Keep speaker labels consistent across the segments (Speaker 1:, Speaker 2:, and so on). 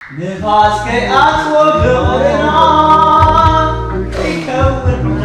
Speaker 1: ንፋስ ከይኣትዎ ፍቕርና ከይከውን
Speaker 2: ሙና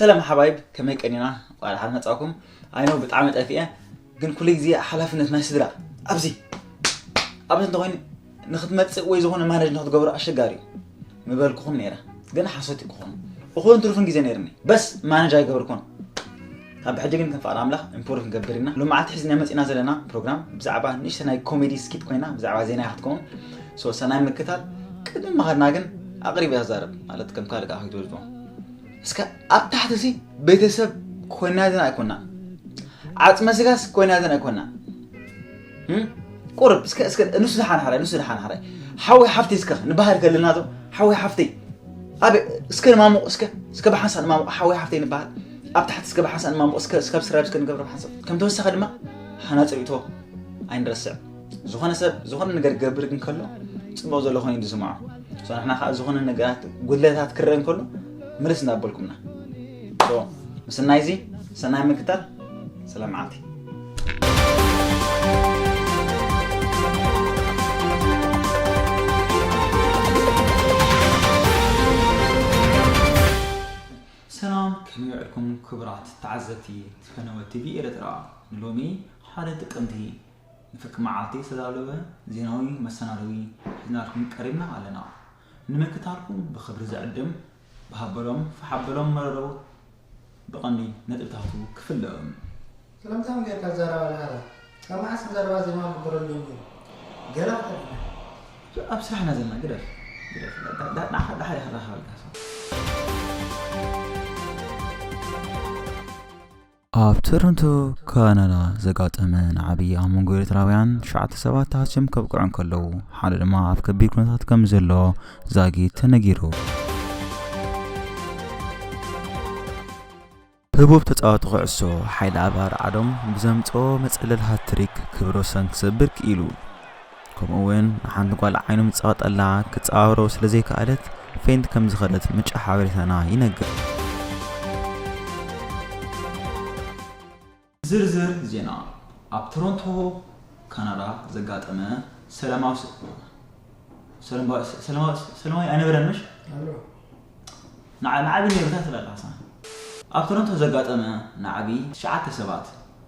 Speaker 1: ሰላም ሓባይብ ከመይ ቀኒና ቃል ሓን መጻኩም ኣይኖ ብጣዕሚ ጠፊአ ግን ኩሉ ግዜ ሓላፍነት ናይ ስድራ ኣብዚ ኣብዚ እንተኮይኑ ንክትመፅእ ወይ ዝኾነ ማነጅ ንክትገብሮ ኣሸጋሪ እዩ ምበልኩኹም ነይረ ግን ሓሶት ክኾኑ እኹን ትሩፍን ግዜ ነይርኒ በስ ማነጅ ኣይገብርኩን ካብ ብሕጂ ግን ከም ፍቃድ ኣምላኽ ኢምፕሩቭ ክንገብር ኢና ሎማዓልቲ ሒዝናያ መጺና ዘለና ፕሮግራም ብዛዕባ ንእሽተ ናይ ኮሜዲ ስኪት ኮይና ብዛዕባ ዜና እያ ክትከውን ሶ ሰናይ ምክታል ቅድሚ ምኻድና ግን ኣቅሪብ እያ ትዛረብ ማለት ከም ካልእ ከኣ ከይትወድፎ እስከ ኣብ ታሕቲ ሲ ቤተሰብ ኮይና ዘን ኣይኮና ዓጽመ ስጋስ ኮይና ዘን ኣይኮና ቁርብ እስከ እስከ ንሱ ዝሓንሓራይ ንሱ ዝሓንሓራይ ሓወይ ሓፍተይ እስከ ንባህር ከለና ዶ ሓወይ ሓፍተይ ኣብ እስከ ንማሙቕ እስከ እስከ ብሓንሳ ንማሙቕ ሓወይ ሓፍተይ ንባህል ኣብ ታሕቲ እስከ ብሓንሳ ንማሙቕ እስከ እስከ ስራብ እስከ ንገብረ ብሓንሳብ ከም ተወሳኺ ድማ ሃናፂ ርእቶ ኣይንረስዕ ዝኾነ ሰብ ዝኾነ ነገር ገብር ግን ከሎ ፅቡቕ ዘሎ ኮይኑ ዝስምዖ ንሕና ከዓ ዝኾነ ነገራት ጉድለታት ክረአ እንከሎ ምልስ እንዳበልኩምና ምስናይ እዚ ሰናይ ምግታል ስለ መዓልቲ ሰላም ከመይ ውዕልኩም ክቡራት ተዓዘብቲ ፈነወ ቲቪ ኤርትራ ንሎሚ ሓደ ጥቅምቲ ንፍርቂ መዓልቲ ዝተዳለወ ዜናዊ መሰናደዊ ሒዝናልኩም ቀሪብና ኣለና ንምክታልኩም ብክብሪ ዝዕድም ብሃበሎም ፍሓበሎም መረረው ብቐንዲ ነጥብታቱ ክፍለእም። ክልምታም
Speaker 2: ጌርካ ኣዛራባ ልሃባ። ካብ መዓስ ንዘረባ ዜማ ግበረሉ እዩ ነይሩ? ገለ ክትብልና?
Speaker 1: ኣብ ስራሕ ኢና ዘለና ግደፍ ግደፍ ንዓኻ ደሓር እየ ክራኸበልካ። ኣብ ቶሮንቶ ካናዳ ዘጋጠመ ንዓብዪ ኣብ መንጎ ኤርትራውያን ትሽዓተ ሰባት ተሃስዮም ከብቅዑ እንከለዉ ሓደ ድማ ኣብ ከቢድ ኩነታት ከም ዘሎ ዛጊት ተነጊሩ ህቡብ ተጻዋቲ ኩዕሶ ሓይሊ ኣባር ዓዶም ብዘምጽኦ መጸለል ሃትሪክ ክብረ ወሰን ክሰብር ክኢሉ። ከምኡ'ውን ንሓንቲ ጓል ዓይኑ ምጸቐጠላ ክትጸባብሮ ስለ ዘይከኣለት ፌንት ከም ዝኸደት ምንጪ ሓበሬታና ይነግር። ዝርዝር ዜና፣ ኣብ ቶሮንቶ ካናዳ ዘጋጠመ ሰለማዊ ኣይነበረን ምሽ ናዕቢ ነይሩ እንታይ ትብላለኻ? ኣብ ቶሮንቶ ዘጋጠመ ናዕቢ ትሽዓተ ሰባት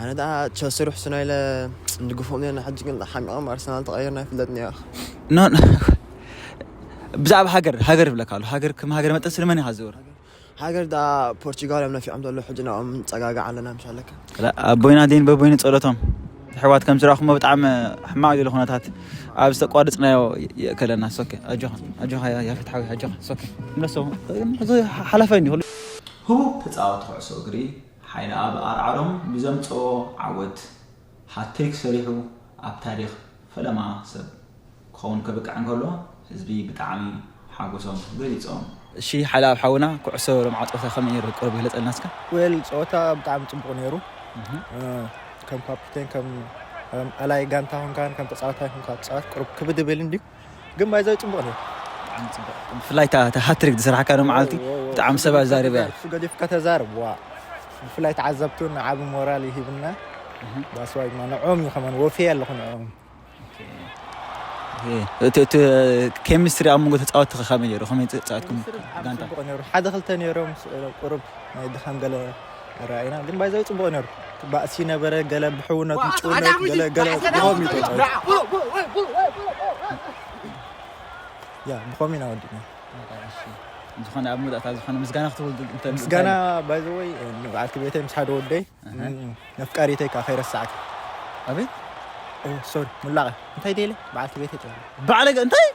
Speaker 1: ኣነ
Speaker 3: ደኣ ቸልሲ ርሕሱና ኢለ ንድግፎም ነርና ሕጂ ግን ሓሚቖም ኣርሰናል ተቐይርና ኣይፍለጥን እያ
Speaker 1: ብዛዕባ ሃገር ሃገር ይብለካ ኣሎ ሃገር ከም ሃገር መጠን ስለመን ኢኻ ዝብር ሃገር ዳ
Speaker 3: ፖርቹጋል እዮም ነፊዖም ዘሎ ሕጂ ንኦም ንፀጋጋዕ ኣለና ምስ ኣለካ ኣቦይና
Speaker 1: ዴን በቦይኒ ፀሎቶም ሕዋት ከም ዝረኽሞ ብጣዕሚ ሕማቅ ዘሎ ኩነታት ኣብ ዝተቋርፅናዮ የእከለና ሶኬ ኣጆኻ ኣጆኻ ያፌት ሓዊ ኣጆኻ ሶኬ ንረሰቡ ሓላፋይ እንዲ ህቡብ ተፃወቲ ኩዕሶ እግሪ ሓይልኣብ ኣርዓዶም ብዘምጸኦ ዓወት ሃትሪክ ሰሪሑ ኣብ ታሪኽ ፈለማ ሰብ ክኸውን ከብቅዕ እንከሎ ህዝቢ ብጣዕሚ ሓጎሶም ገሊጾም። እሺ ሓይልኣብ ሓውና ኩዕሶ ሎምዓት ጸወታ ከመይ ነይሩ ቁሩብ ግለጸልና እስከ። ዌል ጸወታ
Speaker 3: ብጣዕሚ ጽቡቅ ነይሩ ከም ካፑቴን ከም ኣላይ ጋንታ ኮንካ ከም ተጻዋታይ ኮንካ ትጻወት ቁሩብ ክብድ ይብል እንድዩ። ግን ማይዛዊ ጽቡቅ ነይሩ ብጣዕሚ ጽቡቅ ብፍላይ
Speaker 1: እታ ሃትሪክ ዝሰራሕካዶ መዓልቲ ብጣዕሚ ሰብ ኣዛሪባ እያ እሱ ገዲፍካ ተዛረብ
Speaker 3: ዋ ብፍላይ ተዓዘብቲ እውን ዓቢ ሞራል ይሂብና ባስዋይ ድማ ንዕኦም እዩ ከመን ወፍየ ኣለኹ ንዕኦም
Speaker 1: እቲ ኬሚስትሪ ኣብ መንጎ ተፃወቲ ከመይ ነይሩ ከመይ ተፃወትኩም ጋንታ ሓደ ክልተ
Speaker 3: ነይሮም ቁሩብ ናይ ድኻም ገለ ራእና ግን ባይዛዊ ጽቡቅ ነሩ ባእሲ ነበረ ገለ ብሕውነት ምጭውነት ገለ ገለ ብኸም እዩ ያ ብኸም ኢና ወዲና
Speaker 1: ዝኾነ ኣብ መውዳእታ ዝኾነ ምስጋና ክትምስጋና
Speaker 3: ባይዘወይ በዓልቲ ቤተይ ምስ ሓደ ወደይ ነፍቃሪተይ ከዓ ከይረሳዕክ
Speaker 1: ኣቤት
Speaker 3: ሶሪ ሙላቐ እንታይ ደለ በዓልቲ ቤተይ ጥራ በዓለ እንታይ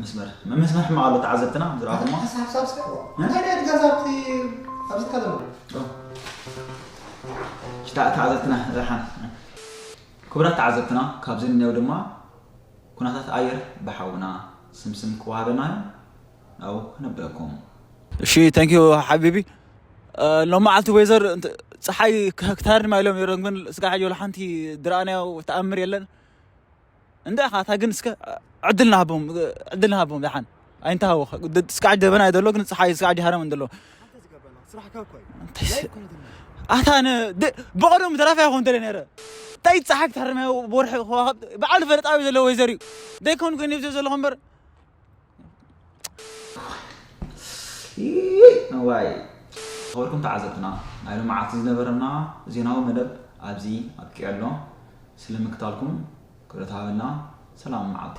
Speaker 1: መስመር መስመር ሕማቕ ኣሎ ተዓዘብትና ከም ዝረኣኹሞ ሓሳብ ሓሳብ ስርሕዎ
Speaker 2: እንታይ ናይ ድጋዛ ኣብቲ
Speaker 1: ኣብዚ ትካ ዘሎ ተዓዘብትና ረሓን ክቡራት ተዓዘብትና ካብዚ እንየው ድማ ኩነታት ኣየር ብሓውና ስምስም ክወሃበና እዩ ናብኡ ክነብረኩም እሺ ታንክ ዩ ሓቢቢ ሎም መዓልቲ ወይዘር ፀሓይ ክታርድማ ኢሎም ነሮም ግን ስጋ ሓጆ ሓንቲ ድረኣናዮ ተኣምር የለን እንዳ ኢኻ እታ ግን እስከ ዕድል ንሃቦም ዕድል ንሃቦም ደሓን ኣይንተሃወ ስካዕ ደበና እዩ ዘሎ ግን ፀሓይ ስካዕ ዲሃረም እንድሎ
Speaker 3: ኣታ
Speaker 1: ብቐደሙ ተራፊ ይኹን እንተለ ነረ እንታይ ፀሓይ ክትሃርም ወርሒ ከዋኸብ በዓል ፈለጣዊ ዘለዎ ወይዘር እዩ ዘይኮን ኮይኑ ይብዘ ዘለኹ እምበር ዋይ ዝኸበርኩም ተዓዘብትና ናይ ልምዓት ዝነበረና ዜናዊ መደብ ኣብዚ ኣብቂዑ ኣሎ ስለምክታልኩም ክብረት ሃበልና ሰላም መዓልቲ